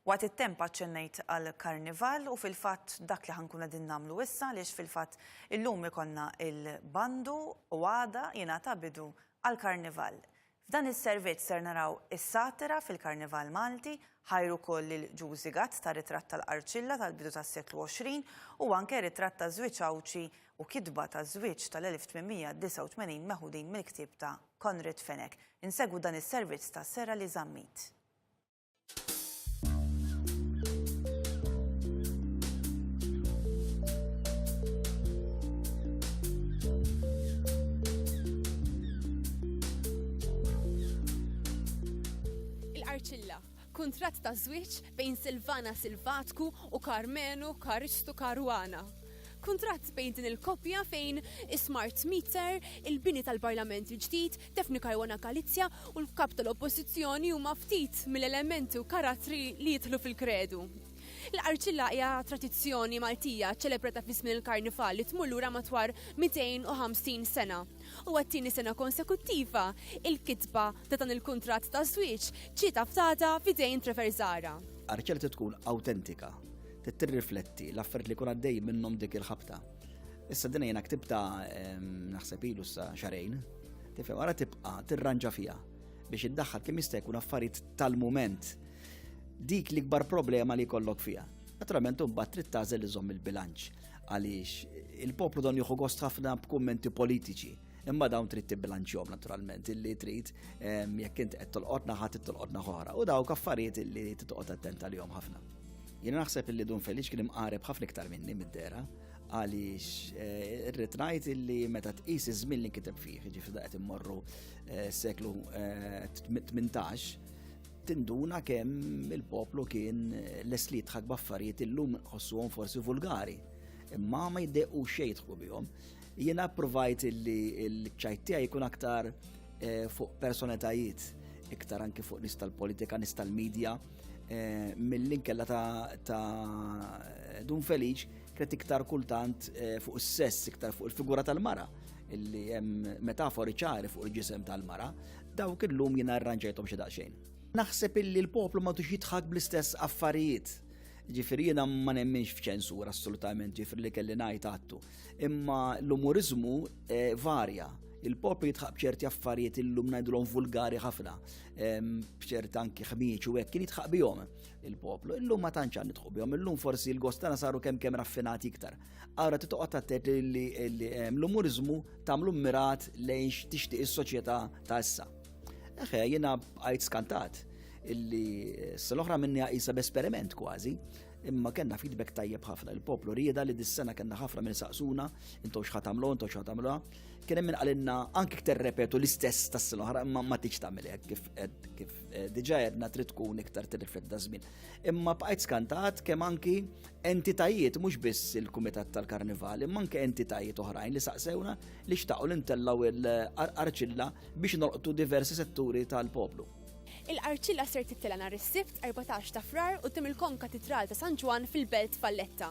Waqt it-temp aċċennejt għall-Karnival u fil-fatt dak li ħa nkunu qegħdin nagħmlu issa għaliex fil-fatt illum ikollna l-bandu u għada jingħata bidu għall-Karnival. F'dan is-servizz ser naraw is-satira fil-Karnival Malti, ħajr ukoll lil Ġużi Gatt ta' ritratt tal-Qarċilla tal-bidu tas-seklu 20 u anke ritratt ta' żwieġ Għawdxi u kitba ta' żwieġ tal-1889 meħudin mill-ktieb ta' Konrad Fenech. Insegwu dan is-servizz ta' Sera Li Zammit. kuntratt ta' żwieġ bejn Silvana Silvatku u Karmenu Karistu Karwana. Kuntratt bejn din il-koppja fejn is-smart meter, il-bini tal-Parlament il-ġdid, Daphne Caruana Galizia u l-Kap tal-Oppożizzjoni huma ftit mill-elementi u karattri li jidħlu fil-kredu. Il-qarċilla hija tradizzjoni Maltija ċċelebrata fi żmien il-Karnival li tmur lura matwar 250 sena. U għat-tieni sena konsekuttiva, il-kitba ta' dan il-kuntratt ta' żwieġ ġiet aftata f'idejn Trevor Zara. Qarċilla trid tkun awtentika, trid tirrifletti l-affarijiet li jkun għaddej minnhom dik il-ħabta. Issa din jiena ktibta ehm, naħseb ilu sa xarejn. Tifhem ara tibqa' tirranġa fiha biex iddaħħal kemm jista' jkun affarijiet tal-mument. Dik l-ikbar problema li jkollok fiha. Naturalment imbagħad trid tażel iżomm il-bilanċ għaliex il-poplu don jieħu gost ħafna b'kummenti politiċi imma dawn trid tibbilanċjom naturalment illi trid ehm, jekk int qed tolqotna ħadd tolqotna ħora u dawk affarijiet illi titqgħod attent għalihom ħafna. Jiena naħseb illi Dun Feliċ kien imqareb ħafna iktar minni mid-dera għaliex eh, irrid ngħid illi meta tqis iż-żmien li kiteb fih, ġifieri qed immorru eh, seklu 18, eh, tinduna kemm il-poplu kien les li jitħak baffarijiet illum ħossuhom forsi vulgari. Imma ma jiddequ xejn jidħku bihom. Jiena provajt illi l-ċajtija jkun aktar fuq personetajiet, iktar anki fuq nis tal-politika, nis tal-medja, Eh, mill-inkella ta' Dun Feliċ kret iktar kultant eh, fuq is-sess, iktar fuq il-figura tal-mara illi hemm metafori ċari fuq il-ġisem tal-mara, dawk illum jien arranġajthom xi daqsxejn. Naħseb illi l-poplu ma tux jitħak bl-istess affarijiet Ġifiri jena ma nemminx f'ċensura assolutament ġifiri li kelli najt għattu. Imma l-umorizmu eh, varja. Il-poplu jitħab ċerti affarijiet illum najdulhom vulgari ħafna. bċert anki ħmieċ u hekk kien jitħaq bihom il-poplu. Illum ma tantx għan nitħu bihom, illum forsi l-gostana saru kemm kemm raffinati iktar. Ara titoqgħod attet li l-umuriżmu tagħmlu mirat lejn tixtieq is-soċjetà ta' issa. Eħe, jiena għajt skantat illi s-sal-oħra minni għajsa b'esperiment kważi, imma kena feedback tajjeb ħafna. Il-poplu rieda li dis-sena kena ħafna minn saqsuna, intom xħatamlu, intom xħatamlu, Kien hemm qalilna anke iktar repetu l-istess tas-sena oħra imma ma tiġ tagħmel hekk kif kif eh, diġà għedna trid tkun iktar tirrifletti ta' żmien. Imma bqajt skantat kemm anki entitajiet mhux biss il-Kumitat tal-Karnival, imma anke entitajiet oħrajn li saqsewna li xtaqgħu li ntellgħu l-arċilla biex nolqtu diversi setturi tal-poplu. Il-qarċilla ser tittela nhar is-Sibt 14 ta' Frar quddiem il-Kom Katidral ta' San Ġwan fil-Belt Valletta.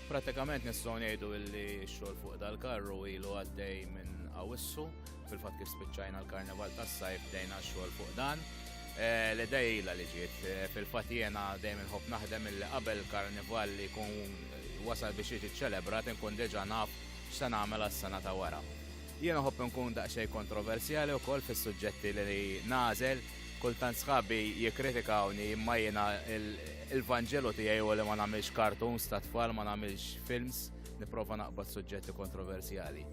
Pratikament nistgħu ngħidu li x-xogħol fuq dal-karru ilu għaddej minn Awissu, fil-fatt kif spiċċajna l-Karnival tas-sajf bdejna x-xogħol fuq dan. Eh, L-idejla li ġiet, eh, fil-fatt jiena dejjem inħobb naħdem illi qabel karnival li jkun eh, wasal biex jiġi ċċelebrat inkun diġà naf x'se nagħmel għas-sena ta' wara. Jiena ħobb nkun daqsxejn kontroversjali wkoll fis-suġġetti li nażel Kultant sħabi jikkritikawni imma jiena il-vanġelu tiegħi huwa li ma nagħmilx cartoons ta' tfal, ma nagħmilx films, nipprova naqbad suġġetti kontroversjali.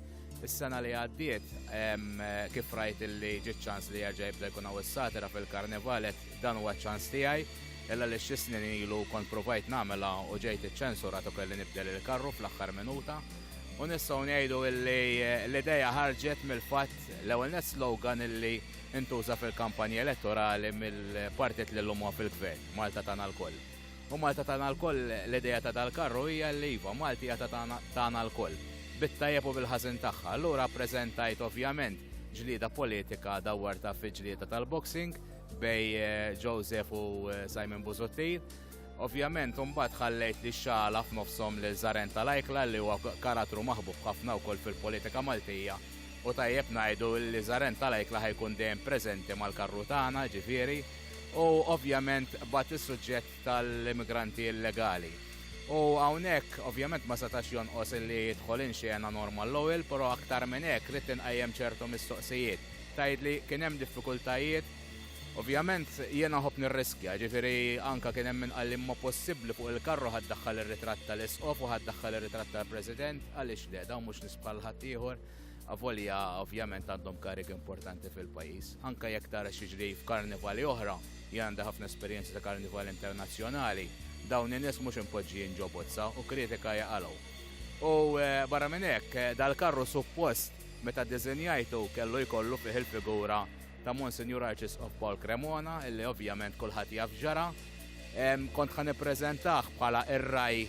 Is-sena li għaddiet kif rajt li ġiet ċans li jerġa' jibda jkun hawn is-satira fil-karnival dan huwa ċans tiegħi illa li xi snin ilu kont provajt nagħmilha u ġejt iċċensurat u kelli nibdel il-karru fl-aħħar minuta. U nistgħu ngħidu illi l-idea ħarġet mill-fatt l-ewwel net slogan illi intuża fil-kampanja elettorali mill-partit li llum huwa fil-Gvern, Malta tagħna lkoll. U Malta tagħna lkoll, l-idea ta' dal-karru hija li iva, Malti hija tagħna lkoll, bit-tajjeb u bil-ħażin tagħha. Allura ppreżentajt ovvjament ġlieda politika dawwartha fi ġlieda tal-boxing bejn Joseph u Simon Busuttil. Ovvjament imbagħad ħallejt li xagħla f'nofshom lil Zaren tal-Ajkla li huwa karattru maħbub ħafna wkoll fil-politika Maltija u tajjeb ngħidu li Zaren tal-Ajkla ħa jkun dejjem preżenti mal-karru tagħna ġifieri u ovvjament bat is-suġġett tal-immigranti illegali. U hawnhekk ovvjament ma setax jonqos li jidħol in xena Norman Lowell, però aktar minn hekk ridt inqajjem ċertu mistoqsijiet. Tgħidli kien hemm diffikultajiet Ovvjament jiena nħobb nirriskja, jiġifieri anke kien hemm min qalli imma possibbli fuq il-karru ħa ddaħħal ir-ritratt tal-Isqof u ħa ddaħħal ir-ritratt tal-President, għaliex le, dawn mhux nies bħal ħaddieħor, avolja ovvjament għandhom karigi importanti fil-pajjiż. Anke jekk tara x'jiġri f'karnivali oħra, jien għandi ħafna esperjenza ta' karnivali internazzjonali, dawn in-nies mhux impoġġijin ġo bozza u kritika hija qalgħu. U barra minn hekk, dal-karru suppost meta ddiżinjajtu kellu jkollu fih il-figura ta' Monsignor Arċisqof Paul Cremona, illi ovvjament kulħadd jaf ġara. Kont ħan ippreżentah bħala ir-raj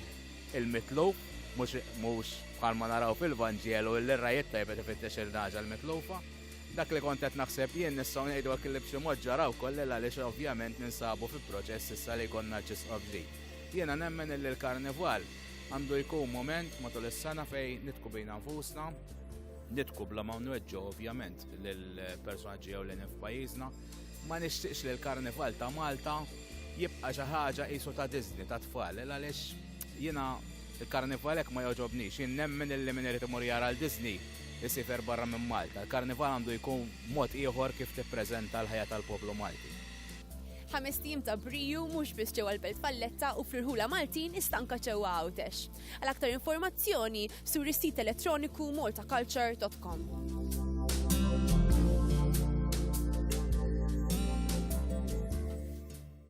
il-mitluf, mhux bħalma naraw fil-Vanġelu illi r-raj it-tajbet ifittex il-naġa l-mitlufa. Dak li kont qed naħseb jien nistgħu ngħidu hekk li b'xi mod ġara wkoll għaliex ovvjament ninsabu fi proċess issa li jkollna Arċisqof ġdid. Jiena nemmen illi l-Karnival għandu jkun moment matul is-sena fejn nitku bina nfusna, nitku bla ma nweġġu ovvjament lill-personaġġi ewlenin f'pajjiżna. Ma nixtieqx li l-Karnival ta' Malta jibqa' xi ħaġa qisu ta' Disney ta' tfal, għaliex jiena il-Karnival hekk ma jogħġobnix, jien nemmen illi min irid imur jara l-Disney isifer barra minn Malta. Il-Karnival għandu jkun mod ieħor kif tippreżenta l-ħajja tal-poplu Malti. Ħames tim ta' briju mhux biss ġewwa l-Belt Valletta u fl-irħula Maltin iżda anke ġewwa Għawdex. Għal aktar informazzjoni, sur is-sit elettroniku maltaculture.com.